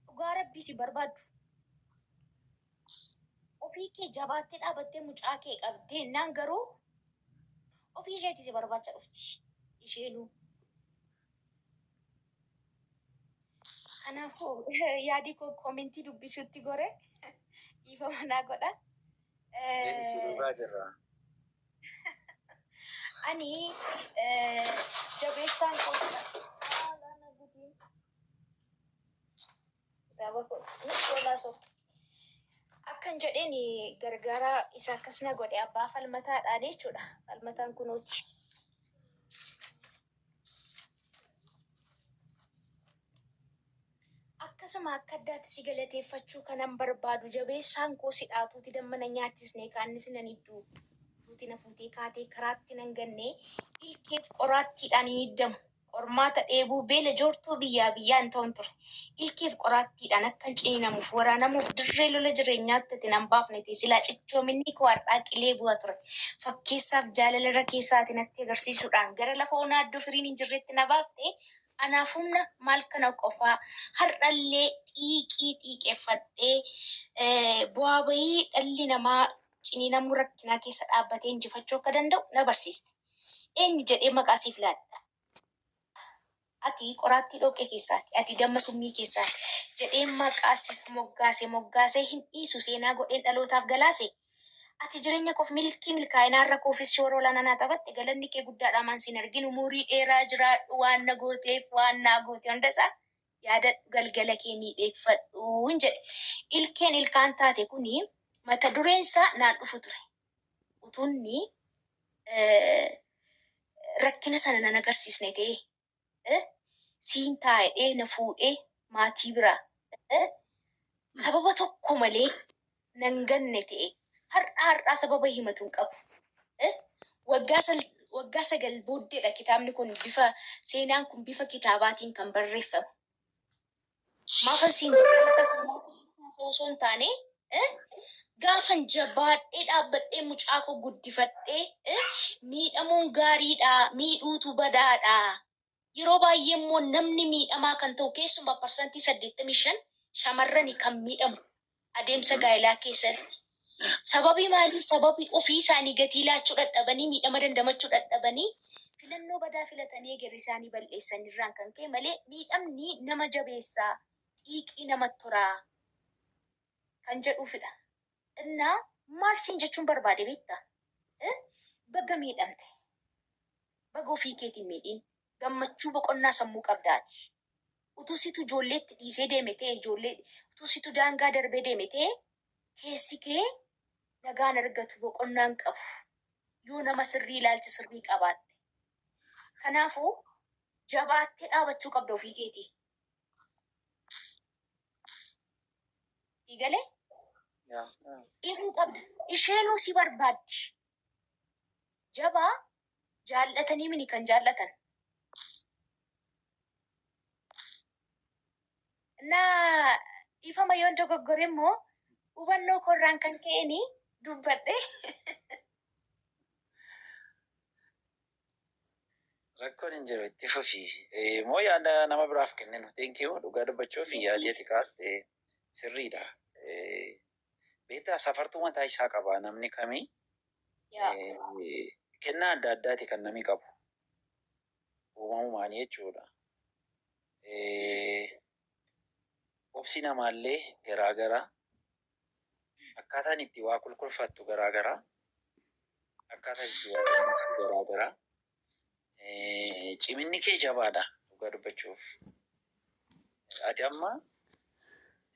Dhugaa rabbii si barbaaddu. Ofii kee jabaattee dhaabattee mucaa kee qabdee naan garuu ofii isheetii si barbaacha dhufti. Isheenuu. Kanaafuu yaadii koo koomentii dubbisuutti gore dhiifama naa godha. Sirraa jirra. Ani jabeessaan koo Akkan jedheen gargaaraa isa akkas na godhe abbaa falmataadhaan jechuudha. Falmataan kunuuti. Akkasuma akka addaatti si galateeffachuu kanan barbaadu jabeessaan koo si dhaatuuti damma na nyaachisne kaannis nan idduu fuuti na fuutee kaatee karaatti nan ganne ilkeef qoraattiidhaan hin iddamu. Qormaata dheebuu beela joortuu biyyaa biyyaan ta'un ture. Ilkeef qoraattiidhaan akkan ciniinamuuf, waraanamuuf dirree lola jireenyaatti ati nan baafne ta'e silaa cichoominnii koo har'aa qilee bu'a ture. Fakkeessaaf jaalala irra keessaa ati natti agarsiisuudhaan gara lafa onaa iddoo firiin hin jirreetti na baafte. Anaaf humna maal kana qofaa har'a illee xiiqii xiiqeffadhee bu'aa ba'ii dhalli namaa ciniinamuu rakkinaa keessa dhaabbatee injifachuu akka danda'u na barsiiste. Eenyu jedhee maqaa siif laadha? Ati qoraattii dhoqqee keessaati, ati damma summii keessaati jedheen maqaa siif moggaase, moggaasee hin dhiisu, seenaa godheen dhalootaaf galaase. Ati jireenya koof milkii, milkaa'ina har'a koofis shoora olaanaa naa taphatte, galanni kee guddaadha hamaan si hin argin, umurii dheeraa jiraadhu waan na gooteef, waan naa goote hundasaa. yaadadhu galgala kee miidheegfadhuun jedhe. Ilkeen ilkaan taate kuni mata dureen isaa naan dhufu ture. Utuunni rakkina sana nan agarsiisne ta'ee siin taa'edhee na fuudhee maatii bira sababa tokko malee nan ganne ta'e har'aa har'aa sababa himatu hin qabu. Eh? Waggaa sal, waggaa sagal booddeedha kitaabni kun bifa, seenaan kun bifa kitaabaatiin kan barreeffame. Maafan siin jedhe akka seenaatti haasa'uu osoo hin taane, eh? gaafan jabaadhee dhaabbadhee mucaa koo guddifadhee, eh? miidhamuun gaariidhaa, miidhuutu badaadhaa, Yeroo baay'ee immoo namni miidhamaa kan ta'u keessumaa parsantii 85 shamarrani kan miidhamu adeemsa gaa'ilaa keessatti. Sababii maalii? Sababii ofii isaanii gatii laachuu dhadhabanii, miidhama dandamachuu dhadhabanii, filannoo badaa filatanii egerri isaanii bal'eessan irraan kan ka'e malee miidhamni nama jabeessaa, xiiqii namatti horaa kan jedhuufidha. እና maal siin jechuun barbaade beekta eh baga miidhamte baga ofii keeti hin miidhiin gammachuu boqonnaa sammuu qabda ati utuu situ ijoolleetti dhiisee deeme ta'e ijoollee utuu situ daangaa darbee deeme ta'e keessi kee nagaan argatu boqonnaan qabu yoo nama sirrii ilaalcha sirrii qabaatte kanaafuu jabaattee dhaabachuu qabda ofii keetii Sii galee Yaa. dhihuu qabda. Isheenuu si barbaaddi. Jabaa jaallatanii mini kan jaallatan. Na dhiifama yoon dogoggore immoo hubannoo koorraan kan ka'een dubbadhe. Rakkoon hin jiru itti fufi. Eh, Moo yaada nama biraaf kenninu. Thank you. Dhugaa dubbachuuf yaadii ati kaaste sirriidha. Eh, Beektaa safartuu mataa isaa qaba namni kamii. Yaa. Eh, Kennaa adda addaati kan namni qabu. Uumamumaan jechuudha. Eh, Obsi namaallee garaagara. Akkaataan itti waa kulkulfattu garaa gara. Akkaataan itti waa dandeessu garaa gara. Eh, Ciminni kee jabaadha dhugaa dubbachuuf. Ati amma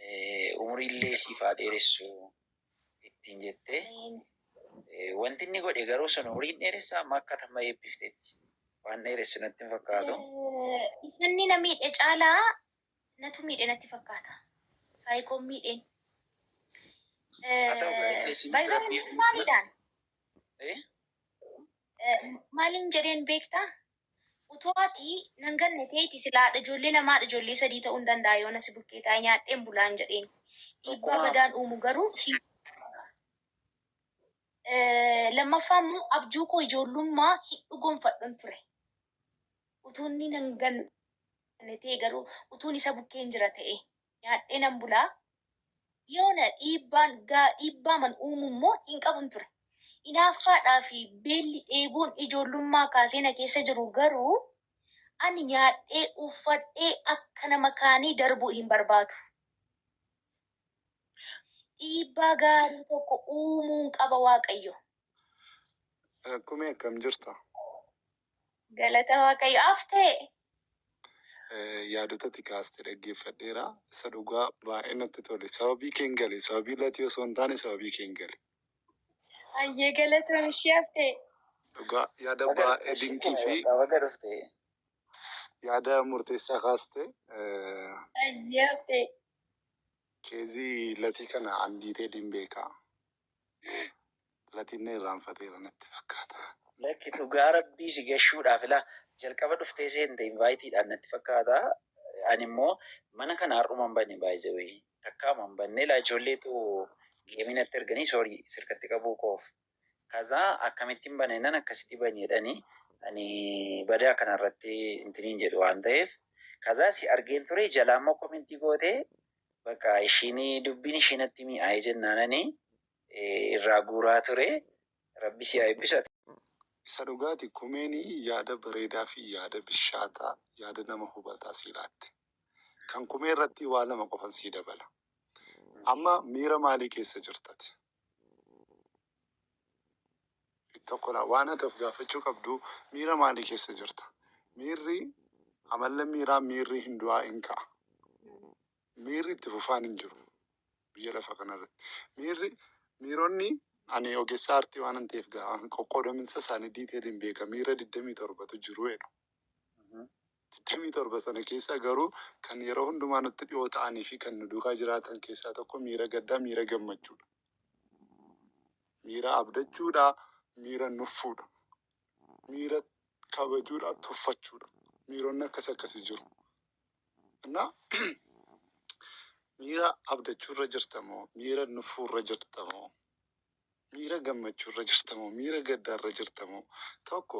eh, umriillee siif haa dheeressu ittiin jettee eh, wanti inni godhe garuu sun umriin dheeressa amma akka tamma eebbifteetti. Waan dheeressu natti hin fakkaatu. Isanni na miidhe caalaa Natu miidhe natti fakkaata. Saayikoon miidheen. Baay'isoon hundumaa miidhaan. Maaliin jedheen beektaa? Utoo ati nan ganne teeti silaadha ijoollee lamaadha ijoollee sadii ta'uu hin danda'a yoona si bukkee taa'ee nyaadheen bulaan jedheen. Dhiibbaa badaan uumu garuu hin lammaffaa immoo abjuu koo ijoollummaa hin dhugoonfadhun ture. Utuu inni nan ganne. Ana ta'e garuu utuun isa bukkeen jira ta'ee nyaadhee nan bula, yoona dhiibbaan gaa dhiibbaaman uumu immoo hin qabun ture. Inaaffaadhaa fi beelli dheebuun ijoollummaa kaasee na keessa jiru garuu ani nyaadhee uffadhee akka nama kaanii darbuu hin barbaadu. Dhiibbaa gaarii tokko uumuun qaba Waaqayyo. Kumee akkam jirta? Galata Waaqayyo. Haftee? Yaadota ati kaaste dhaggeeffadheera. Isa dhugaa baay'ee natti tole. Sababii keen gale. Sababii latii osoo hin taane sababii keen gale. Hayyee galatoom ishee haftee. Dhugaa yaada baay'ee dinqii fi Baga dhufte. yaada murteessaa kaaste. Eh, Hayyee haftee. Keezii latii kana an diiteeliin beekaa. Latiin na irraanfateera natti fakkaata. Lakki dhugaa rabbii si gashuudhaaf ilaa jalqaba dhuftee seente invite dhaan natti fakkaata ani immoo mana kana har'uma hin bane by the way takkaama hin banne ilaa ijoolleetu geemii natti erganii sorry sirkatti qabuu koof kazaa akkamittiin bana innan akkasitti bani jedhani ani badaa kana irratti intiniin jedhu waan ta'eef kazaa si argeen ture jalaa immoo komentii gootee Bakka ishiin dubbiin ishii natti mi'aaye jennaanani irraa guuraa ture. Rabbi si haa eebbisu ati. Isa dhugaati kumeeni yaada bareedaa fi yaada bishaataa yaada nama hubataa sii laatte. Kan kumee irrattii waa lama qofan sii dabala. Amma miira maalii keessa jirta ati? tokkodha. Waan ati of gaafachuu qabdu miira maalii keessa jirta? Miirri amallan miiraa miirri hin du'aa in ka'a. Miirri itti fufaan hin jiru biyya lafa kanarratti. Miirri miironni ani ogeessa aartii waanan ta'eef gaa qoqqoodaminsa isaanii diiteeliin beeka miira 27tu jiru jedhu. 27 sana keessaa garuu kan yeroo hundumaa nutti dhi'oo ta'anii fi kan nu duukaa jiraatan keessaa tokko miira gaddaa, miira gammachuudha. Miira abdachuudha, miira nuffuudha. Miira kabajuudha, tuffachuudha. Miironni akkas akkasii jiru. Innaa miira abdachuurra jirtamoo, miira nuffuurra jirtamoo, miira gammachuurra jirtamoo, miira gaddaarra jirtamoo tokko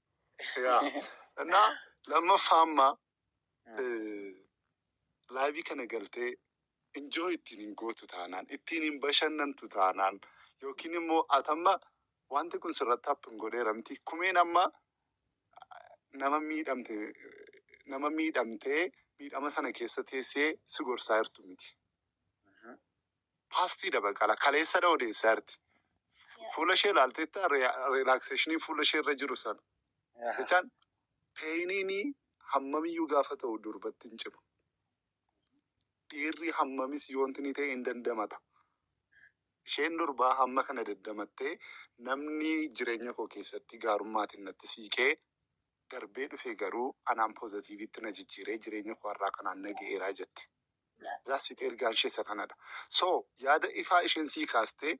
Yaa. Innaa lammaffaa amma eh, laayivii kana galtee injoo ittiin hin gootu taanaan, ittiin hin bashannantu taanaan, yookiin immoo ati amma wanti kun sirratti happen godheera miti. Kumeen amma nama miidhamte nama miidhamtee miidhama sana keessa teessee si gorsaa jirtu miti. Paastii dabaqala kaleessadha odeesse arti. Fu- Fuula ishee ilaalteetta rilaakseeshinii fuula ishee irra jiru sana. Aha. Jechaan peeyiniinii hammamiyyuu gaafa ta'u durbatti hin cimu. Dhiirri hammamis yoonti ni ta'e hin dandamata. Isheen durbaa hamma kana dandamattee namni jireenya koo keessatti gaarummaatiin natti siiqee darbee dhufe garuu anaan poozatiivitti na jijjiiree jireenya koo har'aa kanaan na ga'eeraa jette. That's it ergaan ishee isa kanadha. So yaada ifaa isheen sii kaastee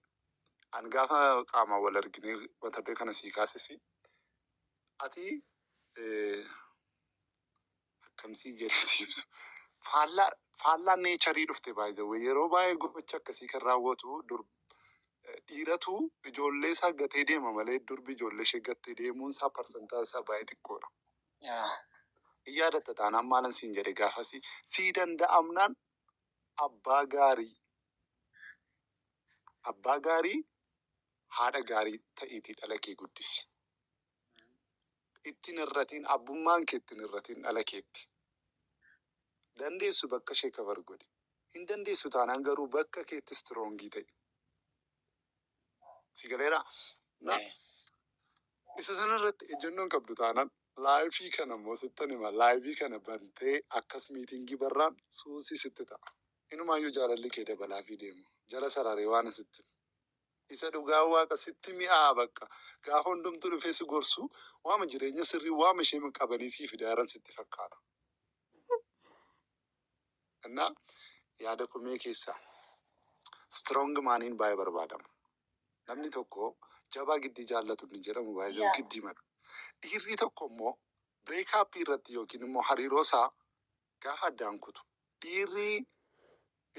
an gaafa qaamaan wal arginee mata duree kana sii kaasesi ati eh, akkamsii jedhee si ibsu faallaa faallaa neecharii dhufte baay'ee yeroo baay'ee gocha akkasii kan raawwatu dur eh, dhiiratu ijoollee isaa gatee deema malee durbi ijoollee ishee gattee deemuun isaa parsantaan isaa baay'ee xiqqoodha. Yaa. Hin yaadatta taanaan maalan siin jedhe gaafasi sii danda'amnaan abbaa gaarii abbaa gaarii haadha gaarii ta'iitii dhala kee guddisi. Ittiin irratiin abbummaan kee ittiin irratiin dhala keetti. Dandeessu bakka ishee kabar godhi. Hin dandeessu taanaan garuu bakka keetti istroongii ta'i. Si galeera? Na, Eh. isa sana irratti ejjennoon qabdu taanaan laayifii kana immoo sittan hima laayivii kana bantee akkas miitingii barraan suusii sitti ta'a. Inumaayyuu jaalalli kee dabalaa fi deema. Jala sararee waan asitti isa dhugaa waaqa sitti mi'aa bakka gaafa hundumtuu dhufee si gorsu waama jireenya sirrii waama ishee qabanii sii fidaaran sitti fakkaata. Innaa yaada komee keessa strong maaniin baay'ee barbaadama. Namni tokko jabaa giddii jaallatu inni jedhamu by the way giddii mana. Dhiirrii tokko immoo break up irratti yookiin immoo hariiroo isaa gaafa addaan kutu dhiirrii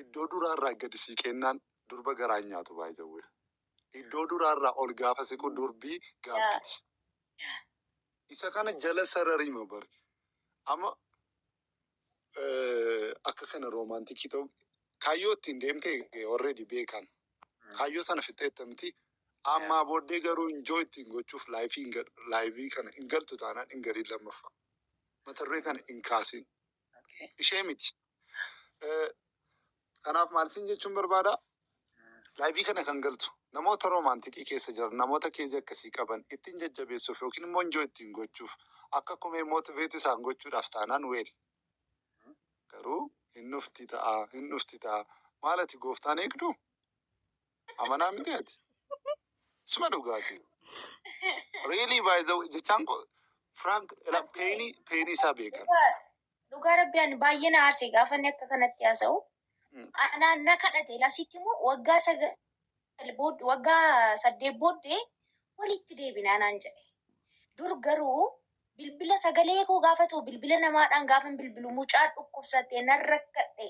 iddoo duraa irraa gadi siiqeennaan durba garaan nyaatu by the way. Iddoo duraa irraa ol gaafa siqu durbii gaabbiti. Isa kana jala sarariima bari. Amma akka kana roomaantikii ta'u kaayyoo ittiin deemtee already beekan kaayyoo sana fixxeetta miti ammaa booddee garuu injoo ittiin gochuuf laayifii hin gal- laayivii kana hin galtu taanaan hin galiin lammaffaa mata duree kana hin kaasin ishee miti Eh, Kanaaf maal siin jechuun barbaada? Laayivii kana kan galtu namoota roomaantikii keessa jiran namoota keezii akkasii qaban ittiin jajjabeessuuf yookiin immoo injoo ittiin gochuuf akka kumee mootiveeti isaan gochuudhaaf taanaan weel garuu hin dhufti ta'a hin dhufti ta'a maal ati gooftaan eegdu amanaa miti ati suma dhugaati riilii baay'ee jechaan koo firaank peenii peenii isaa beekan Dhugaa rabbi ani baay'ee na aarse gaafa inni akka kanatti haasa'u. Anaa na kadhate lasitti immoo waggaa sagal booddee waggaa saddeet booddee walitti deebinaa naan jedhe. Dur garuu bilbila sagalee koo gaafa ta'u bilbila namaadhaan gaafan bilbilu mucaa dhukkubsattee nan rakkadhe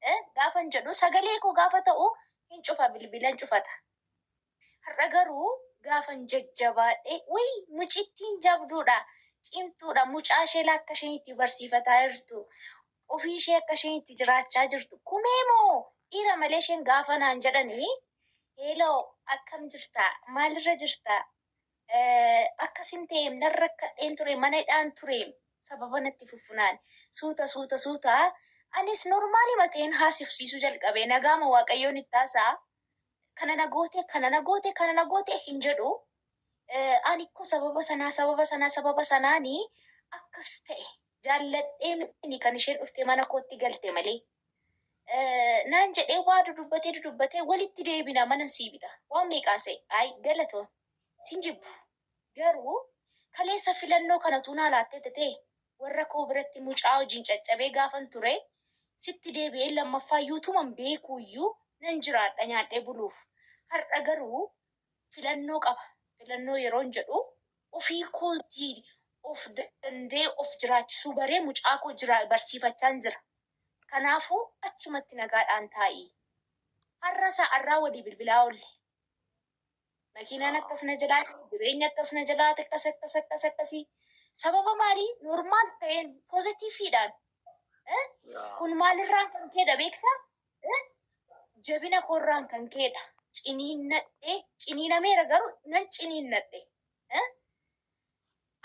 eh, gaafan jedhu sagalee koo gaafa ta'u hin cufa bilbila hin cufata. Har'a garuu gaafan jajjabaadhe wly mucittiin jabduudha cimtuudha mucaa isheele akka isheen itti barsiifataa jirtu ofii ishee akka isheen itti jiraachaa jirtu kumee moo dhiira malee isheen gaafa naan jedhani hello akkam jirta maalirra jirta Eh, akkasin ta'e nan rakkadheen ture mana hidhaan ture sababa natti fuffunaan suuta suuta suuta anis normaali mateen haasifsiisuu jalqabe nagaama waaqayyoon itti haasaa kana na goote kana na goote kana na goote hin jedhu ani ko sababa sanaa sababa sanaa sababa sanaani akkas ta'e jaalladhee mini kan isheen dhufte mana kootti galte malee naan jedhee waa dudubbatee dudubbatee walitti deebina manan sii bita waan meeqaase ay galatoo sin jibbu Garuu kaleessa filannoo kana utuu naa laattee tatee warra koo biratti mucaa wajjin caccabee gaafan ture sitti deebi'ee lammaffaayyu utuman beekuuyyu nan jiraadha nyaadhee buluuf. Har'a garuu filannoo qaba filannoo yeroon jedhu ofii kootii of danda'ee of jiraachisuu baree mucaa koo jira barsiifachaan jira. Kanaafuu achumatti nagaadhaan taa'ii. Har'a sa'arraa walii bilbilaa oolle. Makiinaan akkas na jalaa dha'e, jireenyi akkas na jalaa akkas akkas akkas akkasii. Sababa maalii normaal ta'een pozitiifiidhaan eh, kun maalirraan kan ka'edha beektaa? Eh, Jabina koorraan kan ka'edha. Ciniinnadhee, ciniinameera garuu nan ciniinnadhe. Eh,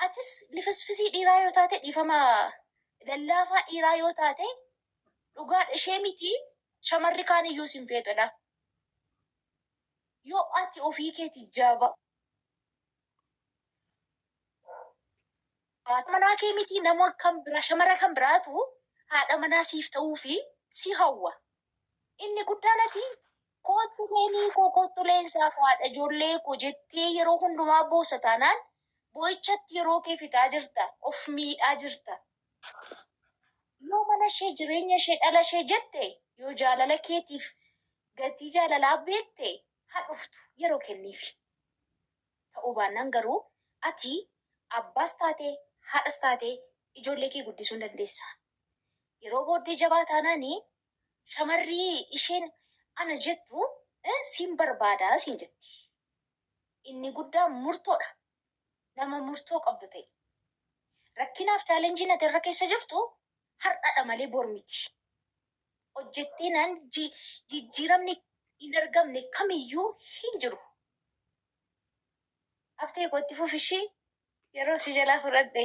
Atis lifisfisii dhiiraa yoo taate dhiifama lallaafaa dhiiraa yoo taate dhugaadha ishee miti shamarri kaan iyyuu sin feetudha. Yo ati ofii keeti jaba. Haadha manaa kee mitii nama kan biraa shamara kan biraatu haadha manaa siif ta'uu fi si hawwa. Inni guddaan ati koottu leenii koo koottu leensaa koo haadha ijoollee koo jettee yeroo hundumaa boossa taanaan boo'ichatti yeroo kee fixaa jirta of miidhaa jirta. Yoo mana ishee jireenya ishee dhala ishee jette yoo jaalala keetiif Gatii jaalalaa beekte ha dhuftu yeroo kenniifi. Ta'uu baannaan garuu ati abbaas taatee haadhas taatee ijoollee kee guddisuu hin dandeessa. Yeroo booddee jabaa taanaan shamarri isheen ana jettu siin barbaada siin jetti. Inni guddaan murtoodha. Nama murtoo qabdu ta'i. Rakkinaaf chaalenjiin ati irra keessa jirtu har'adha malee bor miti. hojjetteenaan jijjiiramni hin argamne kamiyyuu hin jiru. Haftee koo itti fufi ishii yeroo si jalaa fudhadhe.